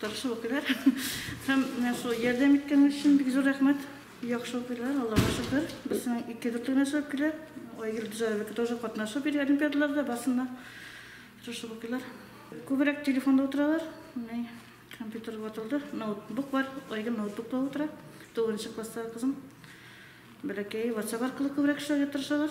Тырыш укыйлар. Һәм менә шул ярдәм иткәннәр өчен бик зур рәхмәт. Яхшы укыйлар, Аллага шөкер. Берсенең ике дүрт генә чыгып килә. Айгөл Дизаевака тоже катнашып йөри олимпиадаларда, барсында тырышып укыйлар. Күбрәк телефонда утыралар. Менә компьютер ватылды, ноутбук бар. Айгөл ноутбукта утыра. Тугызынчы класстагы кызым. Бәләкәе WhatsApp аркылы күбрәк эшләргә тырышалар.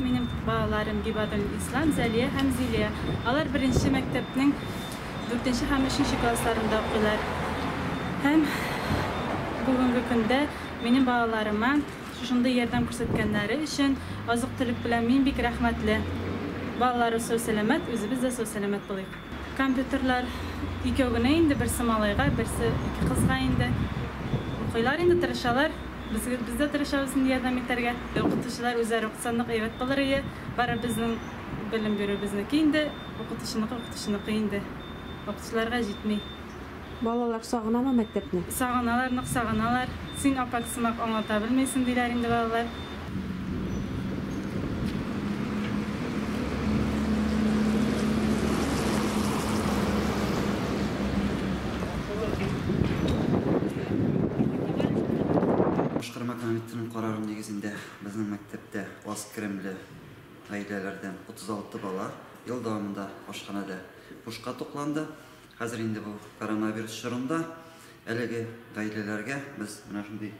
Минем балаларым Гибадун Ислам, Зәлия һәм Зилия. Алар беренче мәктәпнең 4 һәм 3 классларында укыйлар. Һәм бүгенге көндә минем балаларыма шушындый ярдәм күрсәткәннәре өчен азык-төлек белән мин бик рәхмәтле. Балалары сау-сәламәт, үзебез дә сау-сәламәт булыйк. Компьютерлар икәү генә инде, берсе малайга, берсе ике кызга инде. Укыйлар инде, тырышалар. Без, без дә тырышабыз инде ярдәм итәргә. Укытучылар үзләре укытсанлык әйбәт булыр ие. Бары безнең белем бирү безнеке инде, укытучыныкы укытучыныкы инде. Укытучыларга җитми. Балалар сагынамы мәктәпне? Сагыналар, нык сагыналар. Син апат сымак аңлата белмисең, диләр инде балалар. Башкарма комитетының карары нигезендә безнең мәктәптә аз керемле гаиләләрдән 36 бала ел дәвамында ашханәдә бушка тукланды. Хәзер инде бу коронавирус чорында әлеге гаиләләргә без менә шундый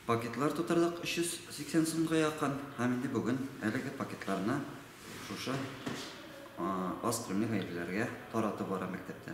пакетлар тутырдык, 380 сумга якын. Һәм инде бүген әлеге пакетларны шушы аз күлемле гаиләләргә таратып бара мәктәптә.